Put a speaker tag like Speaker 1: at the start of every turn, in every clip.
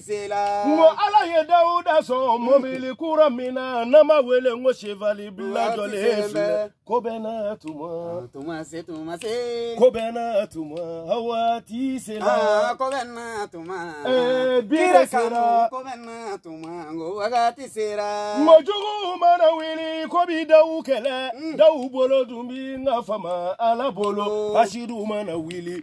Speaker 1: sela. N ko Ala ye
Speaker 2: Dawuda sɔn mobili kura min na n'an b'a wele n ko sevali bilan jɔlen filɛ. Ko bɛɛ n'a tuma. Tuma se tuma se.
Speaker 1: Ko bɛɛ
Speaker 2: n'a tuma a waati sela. Ko bɛɛ n'a
Speaker 1: tuma. Ee bi
Speaker 2: de sera. Ko bɛɛ n'a
Speaker 1: tuma n ko wagati sera. N ko juguw mana
Speaker 2: wuli k'u bi Dawu kɛlɛ. Dawu bolo dun bi n ka faama Ala bolo. Hasidiw mana wuli.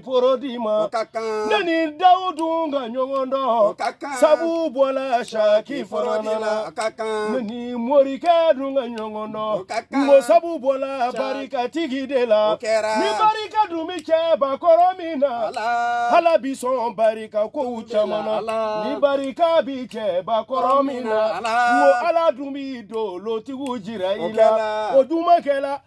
Speaker 2: foro di ma o ka kan ne ni dawu dun ka ɲɔgɔn dɔn o ka kan sabu bɔla saki foro di la o ka kan ne ni morikɛ dun ka ɲɔgɔn dɔn o ka kan n ko sabu bɔla barikatigi de la o kɛra ni barika dun bi cɛ bakɔrɔ min na ala bi sɔn barika kow caman na ni barika bi cɛ bakɔrɔ min na n ko ala dun bi dolotigiw jira i la o dun ma kɛ la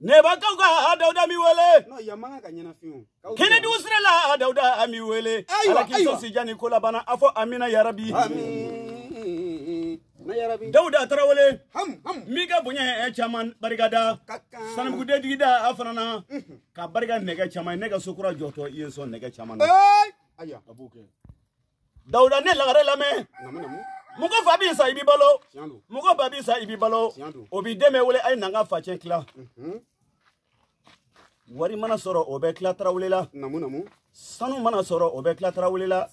Speaker 2: Ne ba kaw ka ha Dawuda n b'i wele. N'o yan man kan ka
Speaker 1: ɲɛnafin o. K'aw Kɛnɛdugu sira
Speaker 2: la ha Dawuda an b'i wele. Ayiwa, Ala k'i ayiwa. sɔn si jan ni ko laban na a fɔ amina yarabi.
Speaker 1: Amina yarabi. Dawuda
Speaker 2: Tarawele Ham ham. min
Speaker 1: ka bonya
Speaker 2: ye caman barika da. Ka kan. Sanamuguden digida a fana na ka barika nɛgɛ caman ye ne ka so kura jɔtɔ i ye n sɔn nɛgɛ caman na. Ee. Ayiwa. A b'o
Speaker 1: kɛ.
Speaker 2: dawuda ne lagare lamɛn
Speaker 1: mɔgɔ fa bi
Speaker 2: sa i bi balo mɔgɔ ba bi sa i bi balo o b'i denw wele a ye na an ka facɛn tila wari mana sɔrɔ o bɛ tila tarawele la
Speaker 1: sanu mana
Speaker 2: sɔrɔ o bɛ tila tarawele la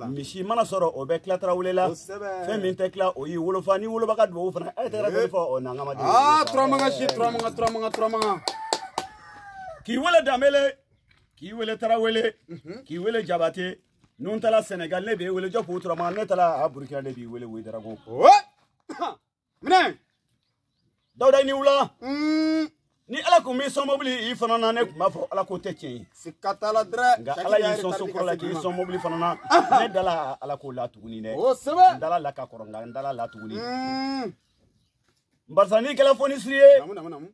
Speaker 2: misi
Speaker 1: mana sɔrɔ
Speaker 2: o bɛ tila tarawele la fɛn min tɛ tila o y'i wolofa ni woloba ka dubabu fana a ye tɛgɛrɛ dɔ fɔ o na n ka ma deli. aa turamanga si turamanga turamanga
Speaker 1: turamanga.
Speaker 2: k'i wele danbele k'i wele tarawele k'i wele jabate. ni n taala sɛnɛgali ne b'i wele jɔpu turama ne taala burukina ne b'i wele wedarago minɛ dawuda i ni wula mm. ni ala kun m'i sɔn mobili i fana na ne kun b'a fɔ ala ko tɛ tiɲɛ ye sika t'a la
Speaker 1: dɛrɛ nka ala y'i sɔn so
Speaker 2: kɔrɔ la k'i sɔn mobili fana na ne dala ala ko la tuguni dɛ o sɛbɛ n dala a la ka
Speaker 1: kɔrɔ nka n
Speaker 2: dala a la tuguni mm.
Speaker 1: barisa n'i
Speaker 2: kɛla fonisire ye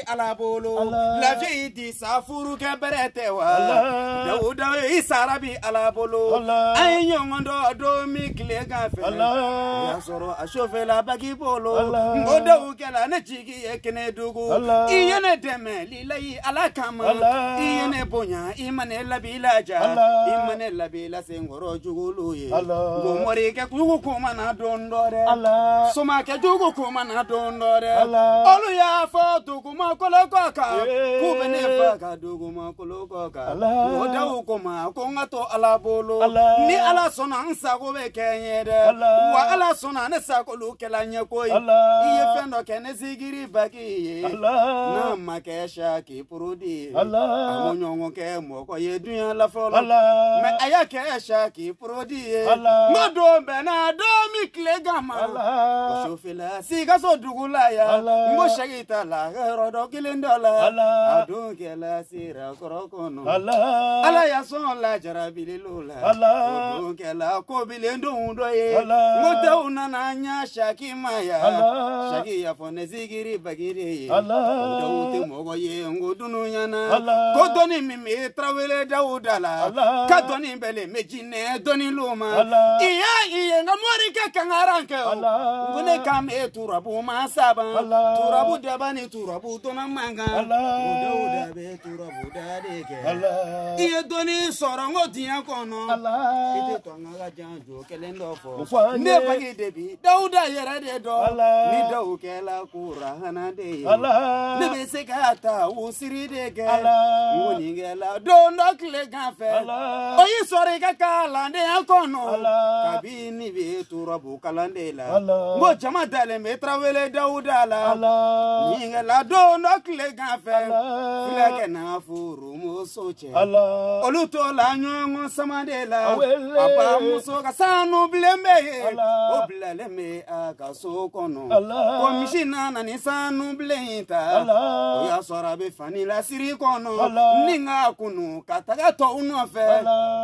Speaker 1: ala bolo lafiyi di sa furu kɛ bɛrɛ tɛ wa dawuda i sara bi ala bolo an ye ɲɔgɔn dɔn don min tilegan fɛ o y'a sɔrɔ a sofɛla baki bolo n ko dawu kɛla ne jigi ye kɛnɛdugu i ye ne dɛmɛ lilayi ala kama i ye ne bonya i ma ne labila ja i ma ne labila se senkɔrɔ jugulu ye n ko morikɛ jugu kumana don dɔ dɛ somakɛ jugu kumana don dɔ dɛ olu y'a fɔ dugumakolo kɔ kan k'u bɛ ne faga dugumakolo kɔ kan o dawu ko n ma ko n ka to ala bolo ni ala sɔnna n sago bɛ kɛ n ye dɛ wa ala sɔnna ne sagolu kɛla n ye koyi i ye fɛn dɔ kɛ ne sigiri baki ye n'a ma kɛ saki porodi ye Ala. a m'o ɲɔgɔn kɛ mɔgɔ ye dunya la fɔlɔ Ala. mɛ a y'a kɛ saki porodi ye Ala. m'o don bɛnna don min tile gan ma Ala. o sufɛla sikaso dugu la yan Ala. n ko saki taala yɔrɔ dɔ kelen dɔ la Ala. a dun kɛla sira kɔrɔ kɔnɔ Ala. ala y'a sɔn la jarabililo la Allah. O kɛla ko bilendonw dɔ ye. Allah. N ko tɛw nana n'a ye saki ma yan. Allah. Saki y'a fɔ ne zikiri bagi de ye. Allah. O dɔw tɛ mɔgɔ ye n ko dunuɲa na. Allah. Ko dɔnni min bɛ tarawele dawuda la. Allah. Ka dɔnni bɛnnen bɛ jinɛ dɔnnilu ma. Allah. I y'a ye n ka morikɛ kangarankɛ o. Allah. N ko ne kan bɛ turabu masaba. Allah. Turabu daba ni turabu dɔnna man kan. Allah. O dawuda bɛ turabu da de kɛ i ye dɔnni sɔrɔ n ko diɲɛ kɔnɔ i tɛ to n ka janjo kelen dɔ fɔ ne bagi de bi dawuda yɛrɛ de dɔn ni dawu kɛla kurana de ye ne bɛ se ka tawusiri de kɛ n ko nin kɛla don dɔ tile gan fɛ o y'i sɔrɔ i ka kalandenya kɔnɔ ni bɛ turabu kalan de la n ko jama dalen bɛ tarawele dawuda la nin kɛla don dɔ tile gan fɛ fulakɛ n'a furumuso cɛ olu tola ɲɔgɔn sama de la a ba muso ka sanu bilen bɛ yen o bilalen bɛ a ka so kɔnɔ ko misi nana nin sanu bilen in ta o y'a sɔrɔ a bɛ fani lasiri kɔnɔ nin k'a kunu ka taga tɔw nɔfɛ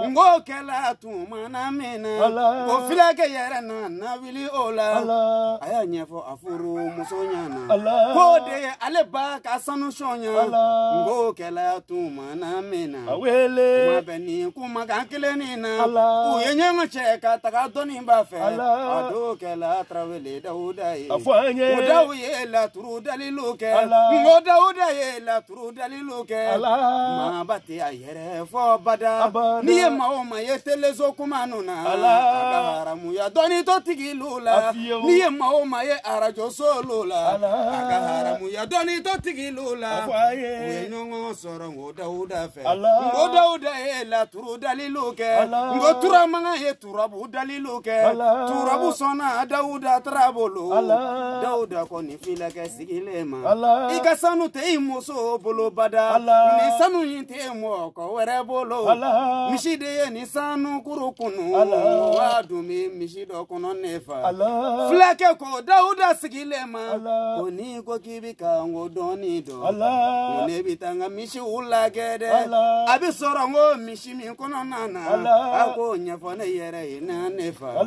Speaker 1: n k'o kɛla tumana min na Ala. o filakɛ yɛrɛ nana wuli o la Ala. a y'a ɲɛfɔ a furu muso ɲɛna Ala. k'o de ye ale ba ka sanu sɔnya Ala. n k'o kɛla tumana min na Ala. k'u ma bɛn nin kumakan kelen nin na Ala. u ye ɲɔgɔn cɛ ka taga dɔnniba fɛ Ala. a dun kɛla tarawele dawuda ye A fɔ an ye. o dawu ye laturu dalilu kɛ Ala. n ko dawuda ye laturu Olu dalilu kɛ Ala. maaba tɛ a yɛrɛ fɔ bada Abada. n'i ye maa o maa ye teleso kuma ninnu na Ala. a ka haramuya dɔnni tɔɔ tigilu la fiyewu. n'i ye maa o maa ye arajosolu la Ala. a ka haramuya dɔnni tɔɔ tigilu la A fɔ a ye. u ye ɲɔgɔn sɔrɔ nko dawuda fɛ Ala. nko dawuda ye laturu dalilu kɛ Ala. nko turamagan ye turabu dalilu kɛ Ala. turabu sɔnna dawuda tara bolo Ala. dawuda kɔni Filakɛ sigilen ma i ka sanu tɛ i muso bolo bada nin sanu in tɛ mɔgɔ wɛrɛ bolo misi de ye nin sanu kuru kunu w'a dun bɛ misi dɔ kɔnɔ ne fa fulakɛ ko dawuda sigilen ma ko n'i ko k'i bɛ ka n ko dɔnni dɔn ko ne bɛ taa n ka misiw lajɛ dɛ a bɛ sɔrɔ n ko misi si min kɔnɔna na a ko ɲɛfɔ ne yɛrɛ ɲɛna ne fa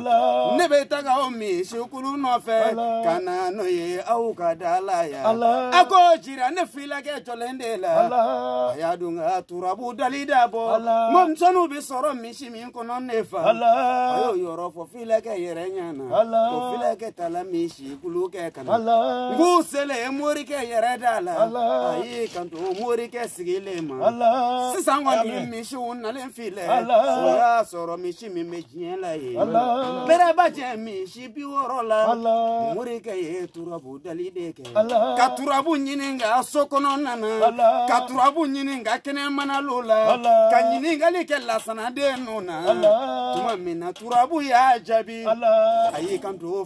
Speaker 1: ne bɛ taga o misikulu nɔfɛ ka na n'o ye aw ka da la yan a ko jira ne filakɛ jɔlen de la a y'a dun ka turabu dali dabɔ mɔmisɛnninw bɛ sɔrɔ misi min kɔnɔ ne fa a y'o yɔrɔ fɔ filakɛ yɛrɛ ɲɛna ko filakɛ taala misi jɛkulu kɛ ka na Ala. n k'u selen morikɛ yɛrɛ da la Ala. a y'i kanto morikɛ sigilen ma Ala. sisan kɔni Amen. misiw nalen filɛ Ala. o y'a sɔrɔ misi min bɛ diɲɛ la ye Ala. bɛrɛ b'a jɛ misi bi wɔɔrɔ la Ala. morikɛ ye turabu dali de kɛ Ala. ka turabu ɲini ka so kɔnɔna na Ala. ka turabu ɲini ka kɛnɛmanalo la Ala. ka ɲininkali kɛ lasanaden ninnu na Ala. tuma min na turabu y'a jaabi Ala. a y'i kanto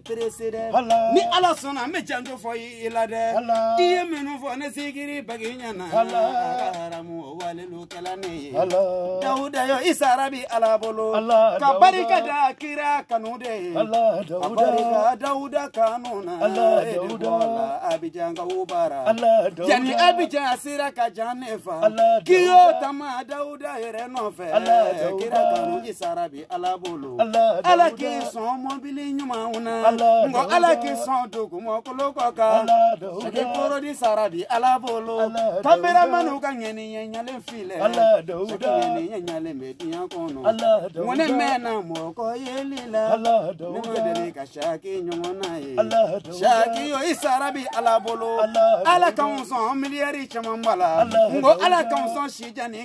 Speaker 1: peresidan Ala. ni ala sɔnna n bɛ janjo fɔ i i la dɛ Ala. i ye minnu fɔ ne zikiri bagi ɲɛna Ala. a ka haramu walelu kɛla ne ye Ala. dawuda yo i sara bi ala bolo Ala, ka Dawuda. barika da kira kanu de ye Ala ka Dawuda. barika dawuda kanu na Ala, e de Dawuda. bɔla abijankaw bara Ala Dawuda. yanni abijan sira ka jan ne fa Ala, k'i y'o Dawuda. tama dawuda yɛrɛ nɔfɛ Ala, Dawuda. kira kanu i sara bi ala bolo Ala, ala Dawuda. k'i sɔn mɔbili ɲumanw na Ala, nko ala Dawuda. k'i sɔn dugumakolo kɔ kan Ala, Dawuda. sɛgɛ kɔrɔ di sara bi ala bolo Ala, Dawuda. kameramaniw ka ŋɛni ɲɛ ɲalen filɛ Ala, Dawuda. sɛgɛ ŋɛni ɲɛ ɲalen bɛ diɲɛ kɔnɔ Ala, Dawuda. nko ne mɛnna mɔgɔ yeli la Ala, ne Dawuda. ma deli ka saki ɲɔgɔnna ye Ala, Dawuda. saki yo i sara bi ala bolo Ala, ala Dawuda. k'anw sɔn miliyari camanba la Ala, nko ala Dawuda. k'anw sɔn sijan ni